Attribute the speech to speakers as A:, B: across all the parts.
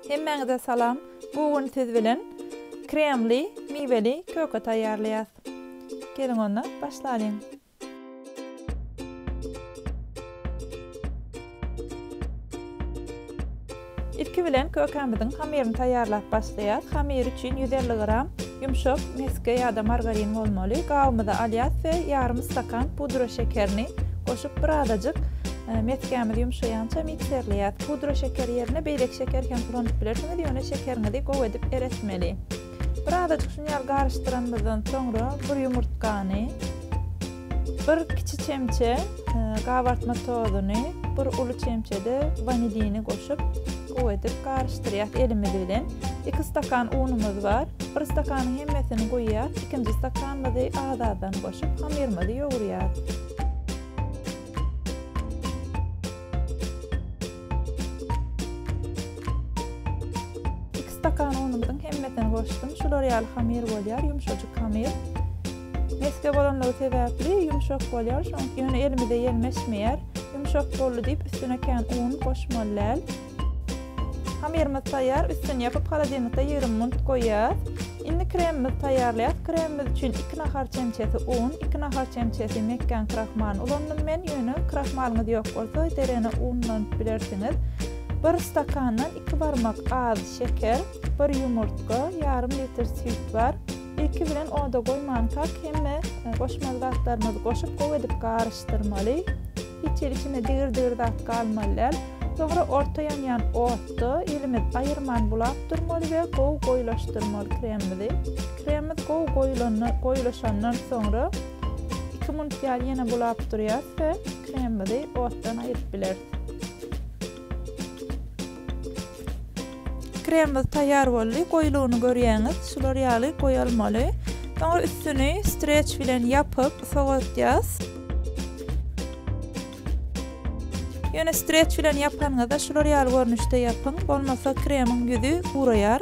A: Hemmäňize salam, bu gün siz bilen kremli miweli köke taýýarlaýas. Geliň onda başlalyň. Ilki bilen kökämiziň hamyryny taýýarlap başlaýas. Hamyr üçin ýüz elli gram ýumşak mesge ýa-da margarin bolmaly. Gabymyza alýas we ýarym stakan pudra şekerini goşup bir azajyk Ee, mesgämiz ýumşaýança mikserleýär. Pudra şeker ýerine beýleki şeker hem ulanyp bilersiňiz, ýöne şekeriňizi gowy edip eretmeli. Bir azajyk şuny ýaly garyşdyranymyzdan soňra bir ýumurtgany, bir kiçi çemçe e, gabartma tozuny, bir uly çemçede vanilini goşup gowy edip garyşdyrýas elimiz bilen. 2 stakan unumyz bar. Bir stakanyň hemmesini guýýas, ikinji stakanymyzy az-azdan goşup hamyrymyzy ýogurýas. Iki stakan unumyzyň hemmesini goşdum. Şular ýaly hamir bolýar, ýumşajyk hamir. Mesge bolanlygy sebäpli ýumşak bolýar, şoň ýöne elimize ýelmeşmeýär. Ýumşak boldy diýip üstüne kän un goşmaly däl. Hamyrymyz taýýar, üstüni ýapyp holodilnikde ýigrimi munut goýýas. Indi kremimizi taýýarlaýas. Kremimiz üçin iki nahar çemçesi un, iki nahar çemçesi mekgän krahmalyny ulandym men, ýöne krahmalyňyz ýok bolsa derene un ulanyp bilersiňiz. Bir stakandan iki barmak az şeker, bir ýumurtga, ýarym litr süýt bar. Ilki bilen oda goýmankak hemme goşmaly zatlarymyzy goşup gowy edip garyşdyrmaly. Hiç ilkinde digir-digir zat galmaly däl. Soňra orta ýanýan otda elimiz aýyrman bulap durmaly we gowy goýulaşdyrmaly kremimizi. Kremimiz gowy goýulanda, goýulaşandan soňra iki minut ýaly ýene bulap durýarys we kremimizi otdan aýryp bileris. Kremimiz taýýar boldy. Goýulygyny görýäňiz. Şular ýaly goýalmaly. Soňra üstüni streç bilen ýapyp sowatýas. Ýöne streç bilen ýapanyňyzda şular ýaly görnüşde ýapyň, bolmasa kremiň ýüzi guraýar.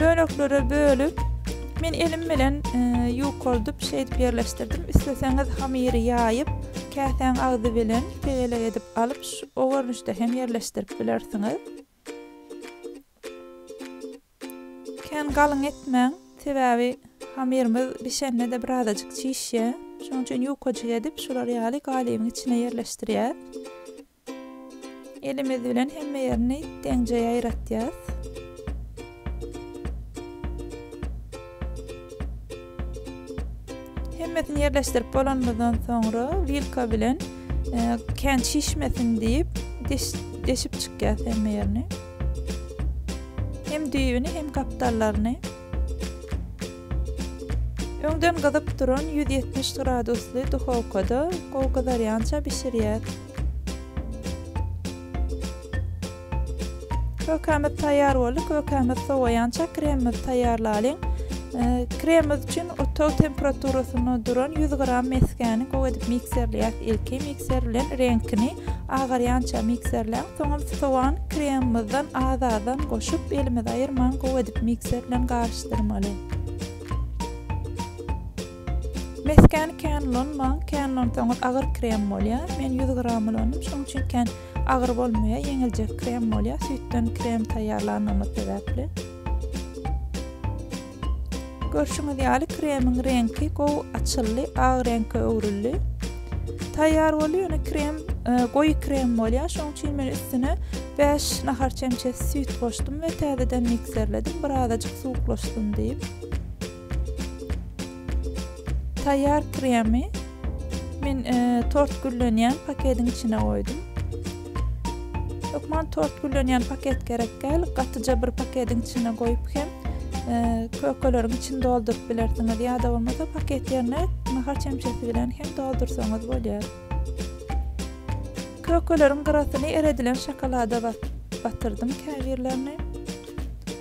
A: Böleklere bölüp, men elim bilen ýukaldyp şeýdip ýerleşdirdim. Isleseňiz hamyry ýaýyp, käsäň agzy bilen tegelek edip alyp, o görnüşde hem ýerleşdirip bilersiňiz. Kän galyň etmäň, sebäbi hamyrymyz bişende-de birazajyk çişýär. Şonuň üçin ýukajyk edip, şular ýaly galybyň içine ýerleşdirýäs. Elimiz bilen hemme ýerini deňje ýaýratýas. Hemmesini ýerleşdirip bolanymyzdan soňra wilka bilen e, kän şişmesin diýip deş, deşip çykýas hemme ýerini. Hem düýbüni hem gapdallaryny. Öňden gyzyp duran ýüz ýetmiş gradusly duhowkada gowy gyzarýança bişirýäs. Kökämiz taýýar boldy. Kökämiz sowaýança kremimizi taýýarlalyň. Kremimiz üçin otag temperaturasyna duran ýüz gram mesgäni gowy edip mikserleýäs. Ilki mikser bilen reňkini agarýança mikserläň, soňam sogan kremimizden az-azdan goşup, elimizi aýyrman gowy edip mikser bilen garyşdyrmaly. Mesgäni kän ulanmaň, kän ulansaňyz agyr krem bolýar. Men ýüz gram ulandym, şonuň üçin kän agyr bolmaýar, ýeňiljek krem bolýar, süýtden krem taýýarlandygymy sebäpli. Görşüňiz ýaly kremiň reňki gowy açyldy, ak reňke öwrüldi. Taýýar boldy, ýöne krem e, goýy krem bolýar. Şonuň üçin men üstüne 5 nahar çemçesi süýt goşdum we täzeden mikserledim, birazajyk suwuklaşsyn diýip. Taýýar kremi men e, tort güllenýän paketiň içine goýdum. Hökman tort güllenýän paket gerek däl. Gatyja bir paketiň içine goýup hem kökeleriň içini dolduryp bilersiňiz. Ýa-da bolmasa paket ýerine nahar çemçesi bilen hem doldursaňyz bolýar. Kökeleriň gyrasyny eredilen şokolada batyrdym käbirlerini.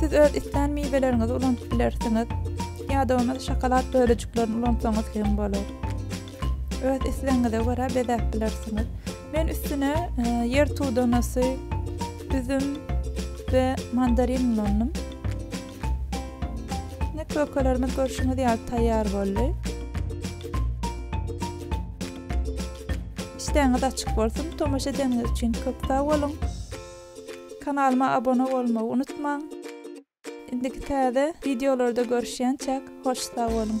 A: Siz öz islän miweleriňizi ulandyp bilersiňiz, ýa-da ony şokolad bölejiklerini ulansaňyz hem bolar. Öz islegiňize görä bezäp bilersiňiz. Men üstüne e, ýer tudanasy, üzüm we mandarin ulandym. Indi kökelerimiz görşüňiz ýaly taýýar boldy. Işdäňiz açyk bolsun. Tomaşa edeniňiz üçin köp sag boluň. Kanalyma abona bolmagy unutmaň. Indiki täze wideolarda görüşýänçäk hoş sag boluň.